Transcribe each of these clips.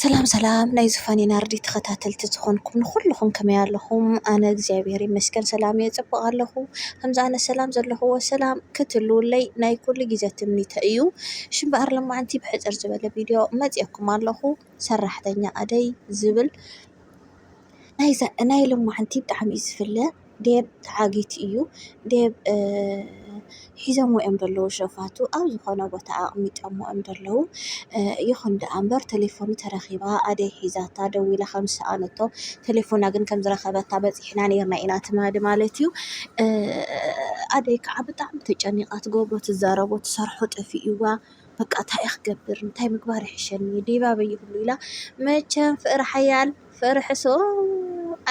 ሰላም ሰላም ናይ ዝፋን ናርዲ ተኸታተልቲ ዝኾንኩም ንኹልኹም ከመይ ኣለኹም ኣነ እግዚኣብሔር ይመስገን ሰላም እየ ፅቡቅ ኣለኹ ከምዚ ኣነ ሰላም ዘለኹዎ ሰላም ክትህልዉለይ ናይ ኩሉ ግዘ ትምኒተይ እዩ። እሺ እምበኣር ሎማዓንቲ ብሕፅር ዝበለ ቪድዮ መፂኦኩም ኣለኹ ሰራሕተኛ ኣደይ ዝብል ናይ ሎማዓንቲ ብጣዕሚ እዩ ዝፍለ። ዴብ ተዓጊቲ እዩ ዴብ ሒዞሞ እዮም ደለዉ ሸፋቱ ኣብ ዝኾነ ቦታ ኣቅሚጠሞ እዮም ደለዉ ይኹን ደኣ እምበር ተሌፎኑ ተረኪባ ኣደይ ሒዛታ ደዊላ ከም ዝሰኣነቶ ተሌፎና ግን ከም ዝረከበታ በጺሕና ኔርና ኢና ትማሊ ማለት እዩ ኣደይ ከዓ ብጣዕሚ ተጨኒቃ ትገብሮ ትዛረቦ ትሰርሖ ጠፊእዋ በቃ ታይ እየ ክገብር እንታይ ምግባር ይሕሸኒ ዴብ ኣበይ ይህሉ ኢላ መቸም ፍቅሪ ሓያል ፍቅሪ ሕሱም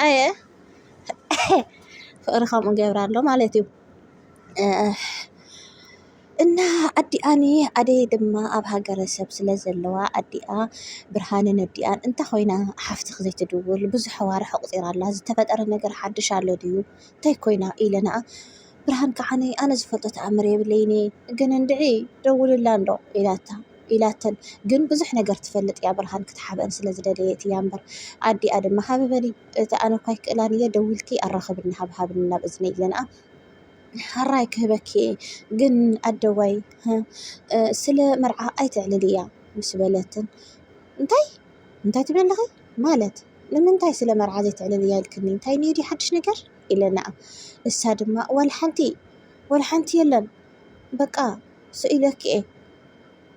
ኣየ። ፍቅሪ ከምኡ ይገብር ኣሎ ማለት እዩ። እና ኣዲኣ ኣደይ ድማ ኣብ ሃገረሰብ ስለ ዘለዋ ኣዲኣ ብርሃነ ነዲኣን እንታይ ኮይና ሓፍትኺ ዘይትድውል ብዙሕ ኣዋርሕ ኣቁጺራ ኣላ ዝተፈጠረ ነገር ሓድሽ ኣሎ ድዩ እንታይ ኮይና ኢለ ንኣ ብርሃን ከዓኒ ኣነ ዝፈልጦ ተኣምር የብለይን እየ ግን እንድዒ ደውልላ እንዶ ኢላታ። ኢላተን ግን ብዙሕ ነገር ትፈልጥ እያ ብርሃን ክትሓብኣን ስለ ዝደለየት እያ እምበር ኣዲኣ ድማ ሃቢ በሊ እቲ ኣነ እኳ ኣይክእላን እየ ደዊልኪ ኣራኽብኒ ሃብሃብኒ ናብ እዝነይ ገንኣ ሓራይ ክህበኪ እየ ግን ኣደዋይ ስለ መርዓ ኣይተዕልል እያ ምስ በለትን እንታይ እንታይ ትብል ኣለኺ ማለት ንምንታይ ስለ መርዓ ዘይትዕልል እያ ኢልክኒ እንታይ እኒኦ ድዩ ሓድሽ ነገር ኢለናኣ እሳ ድማ ዋላ ሓንቲ ዋላ ሓንቲ የለን በቃ ስኢለኪ'የ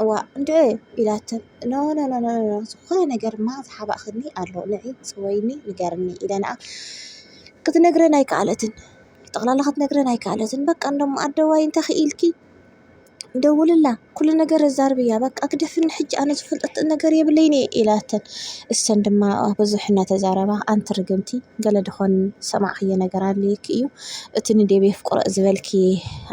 እዋእ እንድዒ ኢላቶም ኖኖኖኖ ዝኾነ ነገርማ ዝሓባእክኒ ኣሎ ንዒ ጽወይኒ ንገርኒ ኢለ ንኣ ክትነግረኒ ኣይከኣለትን ጠቕላላ ክትነግረኒ ኣይከኣለትን በቃ እንዶም ኣደዋይ እንተ ኪኢልኪ ደውልላ ኩሉ ነገር ኣዛርብያ በቃ ግደፍኒ ሕጂ ኣነ ዝፈልጠቶ ነገር የብለይን'የ ኢላተን እሰን ድማ ብዙሕ እናተዛረባ ኣንቲ ርግምቲ ገለ ደኾን ዝሰማዕክዮ ነገር ኣልዩኪ እዩ እቲ ንዴቭ የፍቅሮ ዝበልኪ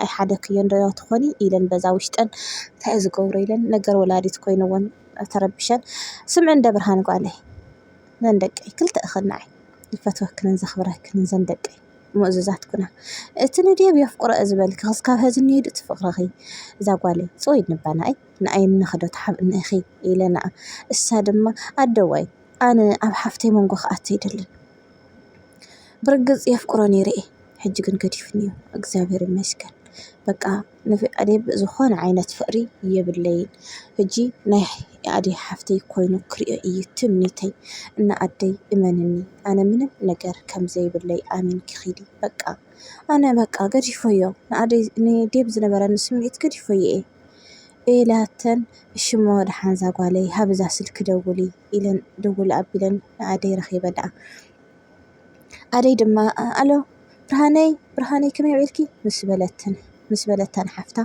ኣይሓደክዮን ዶ ትኾኒ ኢለን በዛ ውሽጠን እንታይ እዩ ዝገብሮ ኢለን ነገር ወላዲት ኮይንወን ተረቢሸን ስምዒ እንደ ብርሃን ጓለይ ነን ደቀይ ክልተ እኽን ንዓይ ዝፈትወክንን ዘኽብረክንን ዘን ደቀይ ምእዙዛት ኩና እቲ ንዴቭ የፍቅሮ ዝበልኪ ክስካብ ሀዚ እንሄዱ እቲ ፍቅርኺ እዛ ጓለይ ጽወይ ንባና ኣይ ንኣይ እንኽዶ ተሓብእኒ ኢኺ ኢለና እሳ ድማ ኣደዋይ ኣነ ኣብ ሓፍተይ መንጎ ክኣቱ ኣይደልን ብርግጽ የፍቅሮ ነይረ እየ ሕጂ ግን ገዲፍኒ እዩ እግዚኣብሔር ይመስገን በቃ ንፍኣዴብ ዝኾነ ዓይነት ፍቅሪ የብለይን ሕጂ ናይ ኣዴ ሓፍተይ ኮይኑ ክሪኦ እዩ ትምኒተይ እና ኣደይ እመንኒ ኣነ ምንም ነገር ከምዘይብለይ ኣሚንኪ ኪዲ በቃ ኣነ በቃ ገዲፈዮ ንኣደይ ንዴብ ዝነበረኒ ስምዒት ገዲፈዮ እየ። ኢላተን እሺሞ ደሓን ዛጓለይ ሃብ እዛ ስልኪ ደውሊ ኢለን ደወል ኣቢለን ንኣደይ ረኺበንኣ ኣደይ ድማ ኣሎ ብርሃነይ ብርሃነይ ከመይ ውዒልኪ ምስ በለትን ምስ በለታ ንሓፍታ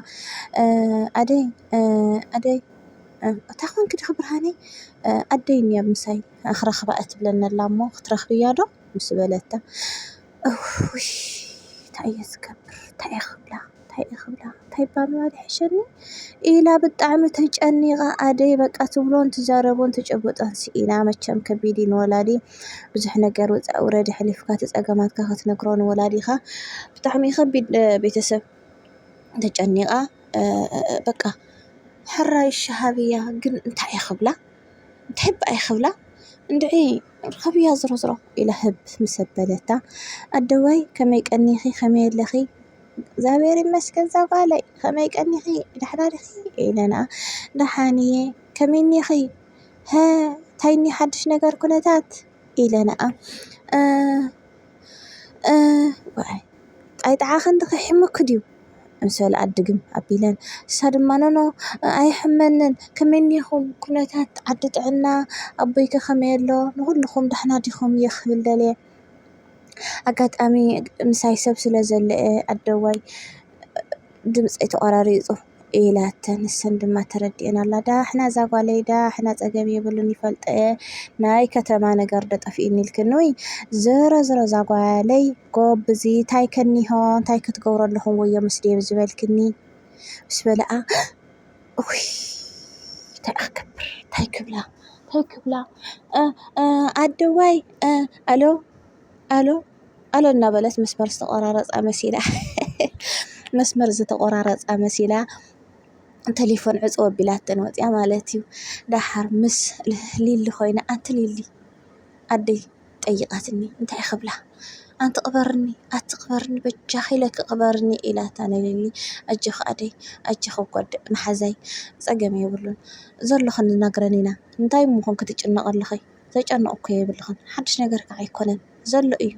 ኣደይ ኣደይ እታ ኮንኪ ድኺ ብርሃነይ ኣደይ እኒኣ ምሳይ ክረኽባ እያ ትብለኒ ኣላ እሞ ክትረኽብያ ዶ ምስ በለታ እውይ ታይ እየ ዝገብር ታይ እየ ክብላ ታይ እየ ክብላ ታይ እባ ምባል ይሕሸኒ ኢላ ብጣዕሚ ተጨኒቃ ኣደይ በቃ ትብሎን ትዛረቦን ትጭብጦን ስኢና መቸም ከቢድ እዩ ንወላዲ ብዙሕ ነገር ውፃእ ውረድ ኣሕሊፍካ ትፀገማትካ ክትነግሮ ንወላዲካ ብጣዕሚ ከቢድ ቤተሰብ ተጨኒቃ በቃ ሕራይ ሻሃብያ ግን እንታይ እየ ክብላ ትሕብ ኣይክብላ እንድዒ ርኸብያ ዝሮዝሮ ኢላ ህብ ምስ ኣበለታ ኣደዋይ ከመይ ቀኒኺ ከመይ ኣለኺ እግዚኣብሔር ይመስገን ዛጓለይ ከመይ ቀኒኺ ዳሕና ዲኺ ኢለና ዳሓን እየ ከመይ እኒኺ ሀ ታይ እኒ ሓዱሽ ነገር ኩነታት ኢለናኣ ጣይጣዓኺ እንድኺ ሕም'ኪ ድዩ። ምስ በልኣ ድግም ኣቢለን ንሳ ድማ ኖኖ ኣይሕመንን ከመይ እኒኩም ኩነታት ዓዲ ጥዕና ኣቦይከ ከመይ ኣሎ ንኩልኩም ዳሕና ዲኩም እየ ክብል ደልየ ኣጋጣሚ ምሳይ ሰብ ስለ ዘሎ እየ ኣደዋይ ድምፀይ ተቆራሪፁ ኢላተን ንሰን ድማ ተረዲኤን ኣላ ዳሕና እዛ ጓለይ ዳሕና ፀገም የብሉን ይፈልጦ እየ ናይ ከተማ ነገር ዶ ጠፊእኒ ኢልክኒ ወይ ዝሮ ዝሮ እዛ ጓለይ ጎብዚ ታይ ከኒሆ ታይ ክትገብሩ ኣለኹም ወዮ ምስ ዴቭ ዝበልክኒ ምስ በለኣ እውይ ታይ ኣክገብር ታይ ክብላ ታይ ክብላ ኣደዋይ ኣሎ ኣሎ ኣሎ እናበለት መስመር ዝተቆራረፃ መሲላ መስመር ዝተቆራረፃ መሲላ ቴሌፎን ዕፅው ኣቢላተን ወፂኣ ማለት እዩ። ደሓር ምስ ሊሊ ኮይና ኣንቲ ሊሊ ኣደይ ጠይቓትኒ እንታይ ክብላ ኣንቲ ቅበርኒ ኣቲ ቅበርኒ በጃኺ ኢለኪ ቅበርኒ ኢላታ ንሊሊ ኣጆኺ ኣደይ ኣጆኺ እኳ መሓዛይ ፀገም የብሉን ዘሎ ክንናግረን ኢና እንታይ እሞ ኮን ክትጭነቂ ኣለኺ ዘጨንቕ እኮ የብልኽን ሓድሽ ነገር ከዓ ኣይኮነን ዘሎ እዩ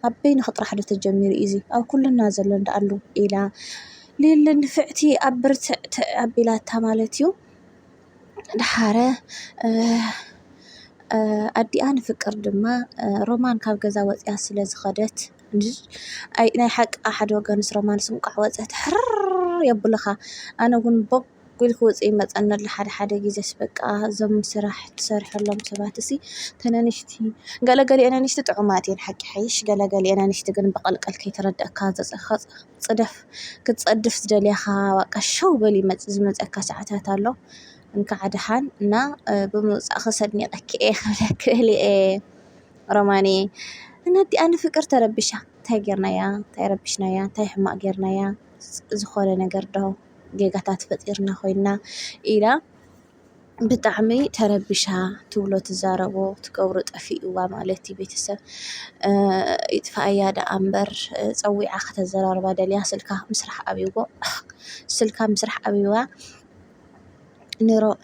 ኣብ በይንኺ ጥራሕ ዶ ተጀሚሩ እዩ እዚ ኣብ ኩልና ዘሎ እንዳኣሉ ኢላ ሊሊ ንፍዕቲ ኣብ ብርትዕ ኣቢላታ ማለት እዩ ደሓረ ኣዲኣ ንፍቅር ድማ ሮማን ካብ ገዛ ወፂኣ ስለ ዝኸደት ኣይ ናይ ሓቂ ሓደ ወገንስ ሮማንስ እንቋዕ ወፀት ሕርርርርር የብሉኻ ኣነ ውን ቦግ ኢሉ ክወፅእ ይመፀኒ ኣሎ ሓደ ሓደ ግዜስ በቃ እዞም ስራሕ ትሰርሐሎም ሰባት እሲ እተን ኣንሽቲ ገለገሊኤን ኣንሽቲ ጥዑማት እየን ሓቂ ይሓይሽ ገለገሊኤን ኣንሽቲ ግን ብቐልቀል ከይተረዳእካ ዝኸፃ ጽደፍ ክትጸድፍ ዝደልያኻ ባቃ ሸው በል ይመጽእ ዝመጸካ ሰዓታት ኣሎ እንካዕ ደሓን እና ብምውጻእኺ ሰድኒቐኪ እየ ክብለኪ እለ ሮማንየ እና እዲኣ ንፍቅር ተረቢሻ እንታይ ጌርናያ እንታይ ረቢሽናያ እንታይ ሕማቅ ጌርናያ ዝኾነ ነገር ዶ ጌጋታት ፈጢርና ኮይና ኢላ ብጣዕሚ ተረቢሻ ትብሎ ትዛረቦ ትገብሮ ጠፊእዋ ማለት እዩ ቤተሰብ ይጥፈኣያ ደኣ እምበር ፀዊዓ ከተዘራርባ ደልያ ስልካ ምስራሕ ኣብይዎ ስልካ ምስራሕ ኣብይዋ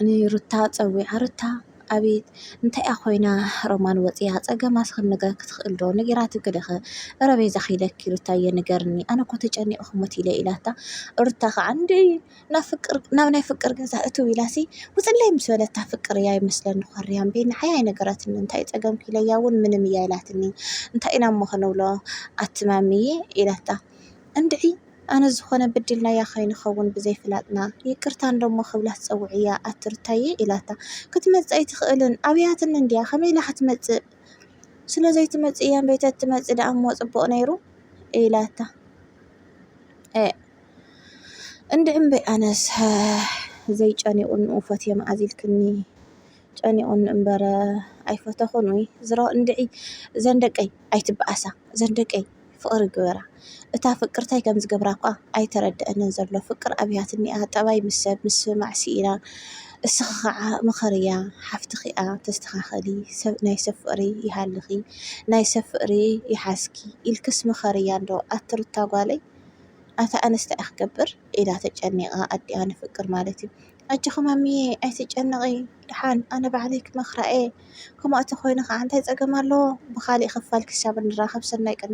ንሩታ ፀዊዓ ሩታ ኣቤት እንታይ እያ ኮይና ሮማን ወፂኣ ፀገማስ ክንገራ ክትክእል ዶ ነጊራትኪ ዶ እረ በይዛኺ ኢለኪ ሩታየ ንገርኒ ኣነ እኮ ተጨኒቀ ክሞት ኢለ ኢላታ ሩታ ከዓ እንድዒ ናብ ፍቅር ናብ ናይ ፍቅር ገዛ እትው ኢላሲ ውፅለይ ምስ በለታ ፍቅር እያ ይመስለኒ ኮርያ እምቢ ንዓይ ኣይነገራትኒ እንታይ እዩ ፀገምኪ ኢለያ እውን ምንም እያ ኢላትኒ እንታይ ኢና እሞ ክንብሎ ኣቲ ማሚየ ኢላታ እንድዒ ኣነ ዝኾነ በዲልናያ ከይንኸውን ብዘይፍላጥና ይቅርታ እንዶ እሞ ክብላ ትፀውዕያ ኣቲ ሩታየ ኢላታ ክትመፅእ ኣይትኽእልን ኣብያትኒ እንድያ ከመይ ኢላ ክትመፅእ ስለዘይትመፅእ እያ እምበይ ተትመፅእ ደኣ እሞ ፅቡቅ ነይሩ ኢላታ። እንድዒ እምበይ ኣነስ ዘይጨኒቑኒ ኡፈትየ መኣዝ ኢልክኒ ጨኒቑኒ እምበር ኣይፈተኹን ኡይ ዝሮ እንድዒ እዘን ደቀይ ኣይትበኣሳ እዘን ደቀይ ፍቕሪ ግበራ እታ ፍቅር ታይ ከምዝገብራ እኳ ኣይተረደኣንን ዘሎ ፍቅር ኣብያት እኒኣ ጠባይ ምስ ሰብ ምስምማዕ ሲኢና እስኺ ኻዓ ምኸርያ ሓፍትኺ እያ ተስተኻኸሊ ናይ ሰብ ፍቕሪ ይሃልኺ ናይ ሰብ ፍቕሪ ይሓዝኪ ኢልክስ ምኸርያ እንዶ ኣቲ ሩታ ጓለይ። ኣታ ኣነስ ታይ እየ ክገብር ኢላ ተጨኒቃ ኣዲኣ ንፍቅር ማለት እዩ ኣጆኪ ማሚየ ኣይትጨነቂ ዳሓን ኣነ ባዕለይ ክመክራ እየ ከምኡ ኣተኮይኑ ካዓ እንታይ ፀገም ኣለዎ ብካሊእ ክፋል ክሳብ እንራከብ ሰናይ ቅንያት።